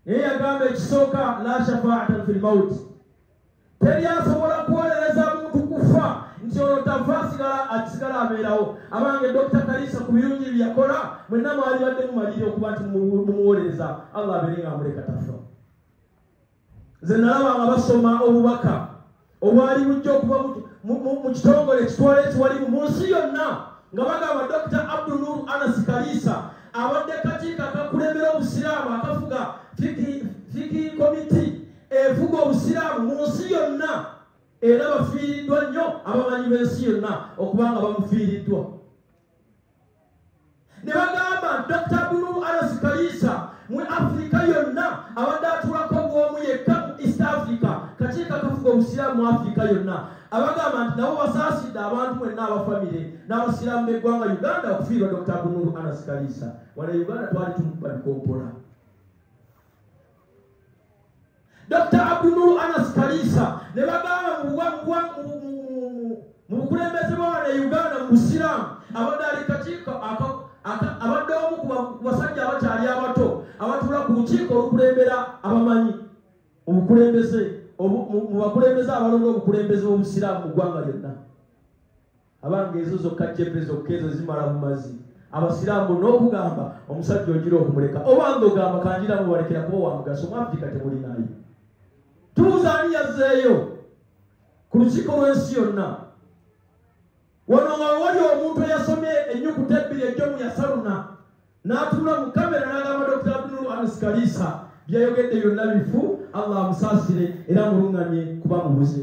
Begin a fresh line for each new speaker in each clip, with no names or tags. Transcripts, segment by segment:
naye yagamba ekisooka la shafaatan fi lmauti teri asobola kuwolereza muntu kufa nti olwo tava asigala akisigala abeerawo abange dokita kalisa ku birungi byeyakola mwenna mwali badde mumaliri okuba nti mumuwolereza allah abeere nga amuleka tafa nze nalaba nga basoma obubaka obwali bujja okuba mu kitongole ekitwala ekiwalimu mu nsi yonna nga bagamba dr abdunur anas kaliisa abadde kakiiko akakulembera obusiraamu akafuga fiki komiti efuga obusiraamu mu nsi yonna era bafiiriddwa nnyo abamanyi b'ensi yonna okuba nga bamufiiriddwa ne bagamba nti dr bulu alas kaliisa mu afirika yonna abadde atulako bwomu yekka mu east africa kakiiko akafuga obusiraamu mu afirika yonna abagamba nti nabo basaasidde abantu mwenna abafamire n'abasiraamu b'eggwanga uganda okufiirwa dr bunulu anas kaliisa wana uganda twali tumukuba bikompola dr abdunulu anas kaliisa ne bagamba mu bukulembeze bwawana e uganda mu busiraamu abadde ali kakiiko abadde omu ku basajja abakyali abato abatula ku lukiiko olukulembera abamanyi obukulembeze mu bakulembeze abalonda obukulembeze b'obusiraamu mu ggwanga lyonna abanga ezo zokka cepe zokka ezo zimala mu mazzi abasiraamu n'okugamba omusajja ogira okumuleka obanga ogamba kangira mubalekera kuba wamugaso mu afirika temulinayo tuuza ani yazzeeyo ku lukiiko lw'ensi yonna wano nga wewali omuntu eyasomye ennyukuta ebbiri ejjo mu yasaluna n'atunula mu kamera n'agamba dokita abdul anis kaliisa byayogedde byonna bifu allah amusaasire era mulunganye kuba mubuze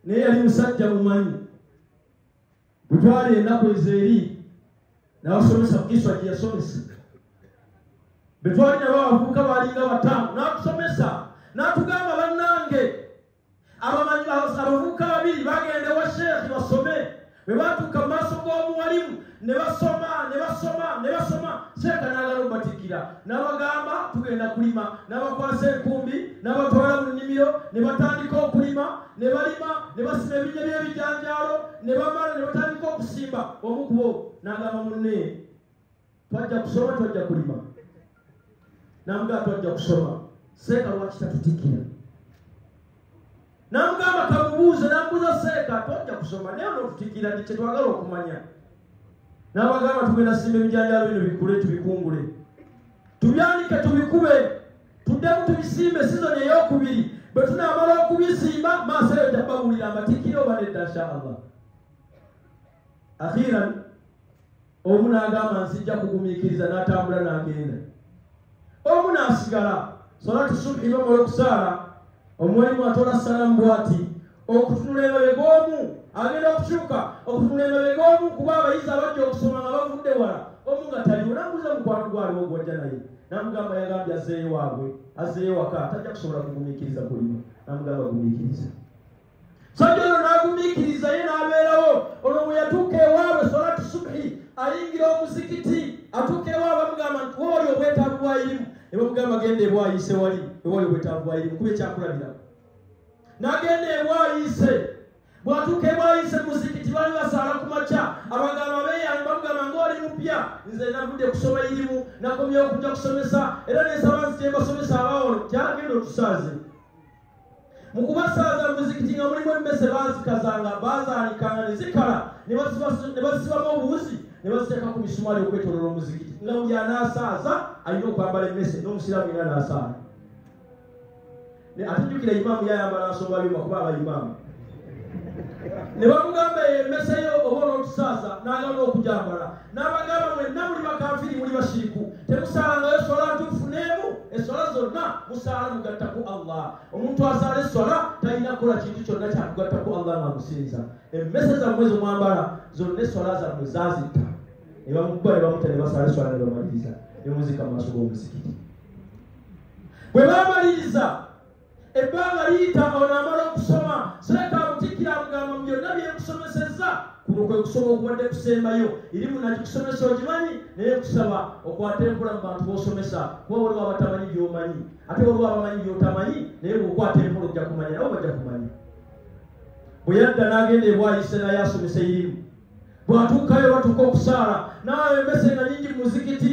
naye yali musajja mumanyi bwetwali ennaku ezo eri nabasomesa mukiswa gyeyasomesa betwali nabo abavubuka balinga bataano natusomesa natugamba bannange abavubuka babiri bagende wa sheekhi basome bwe baatuuka mu maaso g'omuwalimu ne basoma ne basoma ne basoma seeka n'agala obatikkira n'abagamba tugenda kulima n'abakwasa enkumbi n'abatwala mu nnimiro ne batandika okulima ne balima ne basima ebinya by'ebijanjaalo ne bamala ne batandika okusimba omukubo n'agamba munne twajja kusoma twajja kulima namugaa twajja kusoma seeka lwaki tatutikira namugamba kamubuuze namubuuza seeka twajja kusoma naye onotutikira nti kyetwagala okumanya nabagamba tugenda simba ebijanjalo bino bikule tubikungule tubyanike tubikube tuddemu tubisimbe sizoni eyokubiri bwe tunamala okubisimba maaso eyo jabawulira amatikira oba nedda nshaallah akhiran omu n'agamba nzijja kugumiikiriza n'atambula n'agenda omu n'asigala sola tusubhi nomala okusaala omuwalimu atola salamu bwati okutunula emabega omu agenda okukyuka okutunula emabega omu kuba abayizi abajja okusoma nga bavudde wala omu nga taliwo namubuza mukwano gwaliwo gwajja naye namugamba yagambye azeeyo waabwe azeeyo waka tajja kusobola kugumiikiriza kulima namugamba gumiikiriza sajja ono n'agumiikiriza ye n'abeerawo olwo bwe yatuuka ewaabwe solatu subhi ayingira omuzikiti atuuka ewaabwe bamugamba nti wooli obwetaavu bwayirimu ne bamugamba genda ebwayise wali ewali obwetaavu bwayirimu kuba ekyakulabirako n'agenda ebwayise bwatuuka ebwayise muzikiti bali basaala ku makya abagamba beyange bamugamba ngaoli mupya nze navudde kusoma irimu nakomyewo okuja kusomesa era nesaba nzityembasomesa abawono kyagenda otusaaze mu kubasaaza mu muzikiti nga mulimu emmese baazikazanga baazaalikanga ne zikala ne basibamu obuwuzi ne baziteeka ku misumaali okwetolola omuzikiti nga buli anaasaaza alina okwambala emmese n'omusiraamu ina anaasaala ate jjukira imaamu yayambala nsonga byuma kuba abaimaamu ne bamugamba emeseyo oba olwotusaaza n'agamba okugyambala n'abagamba mwenna muli bakanfiri muli bashiriku temusalangayo eswala ntuufu n'emu eswala zonna musaala mugatta ku allah omuntu asaala eswala talina kukola kintu kyonna kyakugatta ku allah nga musinza emmese zammwe zomwambala zonna eswala zammwe zazitta ne bamukuba ne bamuta ne basaala eswala ne bamaliriza ne muzika mu maaso g'omuzikiti bwe bamaliriza ebbanga liyita ono amala okusoma seeka amutikkira amugamba mu byonna byenkusomesezza kuno kwe kusoma okubadde kusembayo eri munakikusomesa ogimanyi naye kusaba okwate enkola mu bantu bosomesa kuba waliwo abatamanyi byomanyi ate waliwo abamanyi byotamanyi naye bwokwata enkola ojja kumanya nabo bajja kumanya bwe yadda n'agenda ebwayise naye asomesa erimu bwatuukayo batuuka okusaala naawe embese nga nyingi mu muzikiti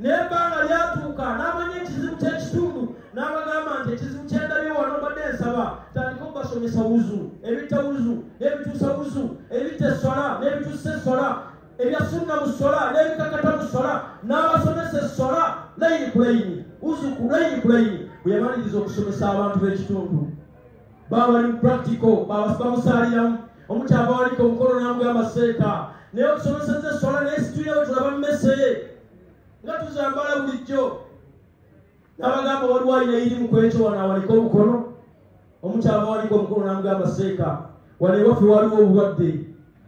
naye ebbanga lyatuuka n'amanya ekizibu ky'ekitundu n'abagamba nti ekizibu kyendabye wano mbadde nsaba tandika okubasomesa wuzu ebitta wuzu n'ebituusa wuzu ebitta essola n'ebituusa essola ebya sunna mu ssola n'ebikakata mu ssola n'abasomesa essola layini ku layini wuzu ku layini ku layini bwe yamaliriza okusomesa abantu b'ekitundu baba bali mu practical bamusaaliramu omukyava waliko omukono namugamba seeka naye otusomeseza eswala naye situlina bwe tulaba mumeseye nga tuzambala bulijjo nabagamba waliwo alina iri mu kwekyo wano awaliko omukono omukyava waliko omukono namugamba seeka wano ewaffe waliwo obulwadde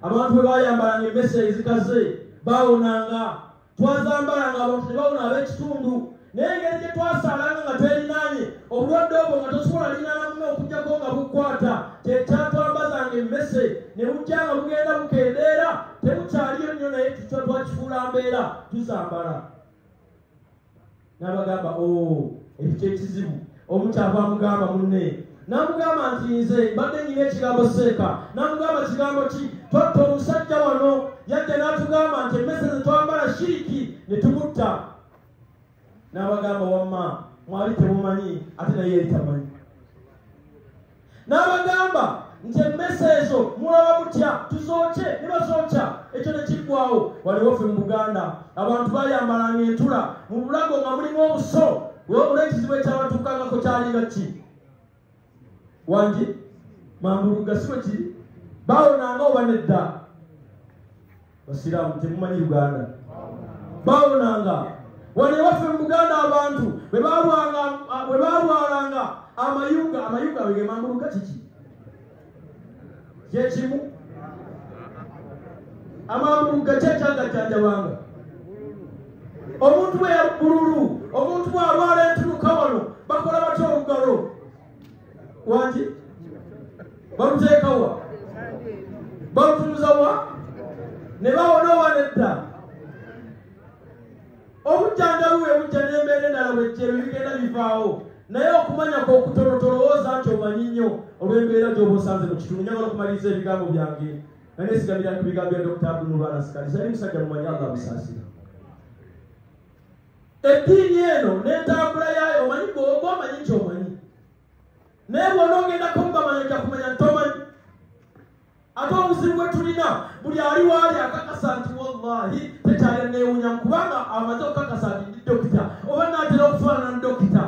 abantu bwe bayambalanga emese ezikaze bawonanga twazambalanga abantu ne bawona ab'ekitundu naye engeri gye twasaalanga nga twelinaanye obulwadde obwo nga tosobola linaana muno okujjako nga bukwata kyekyatwambazanga emmese ne bujja nga bugenda bukendeera tebukyaliyo nnyo naye tutwa twakifuula mbeera tuzambala n'abagamba o oh, ekyo kyekizibu omu kyava amugamba munne n'amugamba nti nze mbadde nyina ekigambo seeka n'amugamba kigambo ki twatta omusajja wano yadde n'atugamba nti emmese ze twambala shiriki ne tumutta n'abagamba wamma mwali temumanyi ate naye yali tamanyi n'abagamba nti emmese ezo mulaba mutya tuzooke ne bazookya ekyo ne kiggwawo waliwo ffe mu buganda abantu bayambalanga entula mu bulago nga mulimu obuso olw'ekizibu ekyabatuukangako kyalinga ki wangi mambulugga si bwe kiri bawonanga oba nedda basiraamu temumanyi uganda bawonanga wano ewaffe mu buganda abantu bwe balwalanga amayuga amayuga wegemambuluka kiki kyekimu amambuluga kyekyagajjanjabanga omuntu bwe yabululu omuntu bwalwala entunuka wano bakola batya olugalo wanti baluteekawa balutuuzawa ne bawona oba nedda obujjanjabi bwe bujja n'embeera endala bwejjero bigenda bivaawo naye okumanya kwokutono tolowooza nti omanyi nnyo olw'embeera gyoba osanze mu kitundu nyagala okumaliriza ebigambo byange naye sigamira ku bigambo bya dokita abdulmubarasikali sali musajja mumanyi allah musaasira eddiini eno n'entambula yaayo omanyi gwoba omanyi nti omanyi naye bwona ogendako mubamanya jakumanya nti omanyi ate obuzibu bwe tulina buli ali waali akakasa nti wallahi tekyali neewunya kubanga amaze okukakasa nti ndi dokita oba naatera okufaanana dokita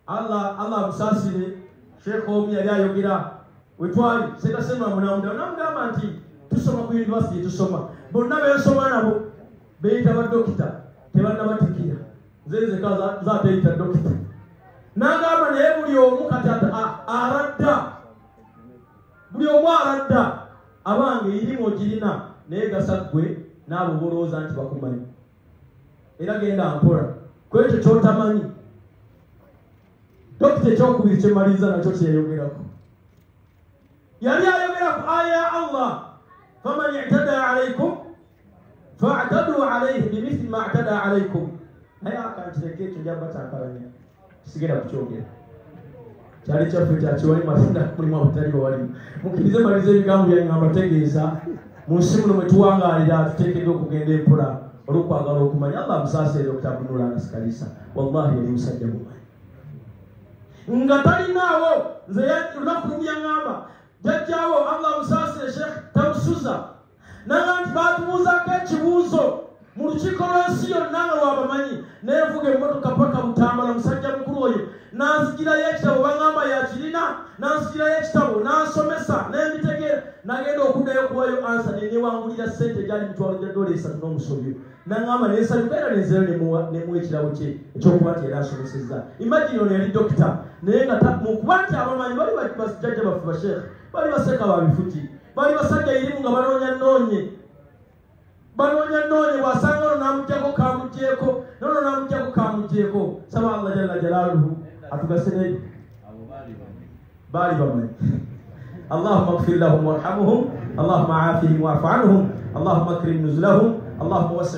allah allah amusasire sheekh omu yali ayogera wetwali sekasemba munamuda namugamba nti tusoma ku univesity tusoma bonna bensoma nabo beyita badokita tebanabatikira nze nzeka zateyita dokita nagamba naye buli omu kati aradda buli omu aradda abange irimu ogirina naye gasa ggwe naabo bolowooza nti bakumanyi era genda mpola ku ekyo kyotamanyi dokita ekyokubiri kyemaliriza nakyo kyeyogerako yali ayogera ku aya ya allah faman itada alaikum fatadu alaihi bimithli ma atada alaikum naye akantireka ekyo jaba kyakalanya sigenda kukyogera kyali kyaffe kyakiwali mafuna mulimu abutali bawalimu mukkirize maliza ebigambo byange nga mbategeeza mu nsi muno mwe tuwangaalira tuteekeddwa okugenda empola olwokwagala okumanya allah musaasere okutabunula akasikalisa wallahi yali musajja mumanyi nga talinaawo nze olunaku lumu yaŋamba jajjaawo allah musaasire sheekh tamusuza naga nti baatubuuzaako ekibuuzo mu lukiiko lw'ensi yonna nga lwabamanyi neevuga emmotoka paka butambala musajja mukulu oyo nanzigirayo ekitabo baŋamba yakirina nanzigirayo ekitabo nansomesa nembitegeera nagenda okuddayo okuwayo ansa nenewangulira sente egyali mitwalo gya dola esatu n'omusobyo naŋamba nensanyuka era nenzera nemuwa ekirabo kye ekyokuba nti era asomesezza imagine ono yali dokita naye nga mukuba nti abamanyi bali bajjajja baffe basheekhe bali baseka babifuki bali basajja irimu nga banoonya noonye banoonya noonye bwasanga ono namugyako kamugyeko nono namugyako kamugyeko saba allah jalla jalaluhu atugase nebi baali bamanyi allahuma gfir lahum warhamuhum allahuma afihim wafu anhum allahuma akrim nuzulahum allahuma wasi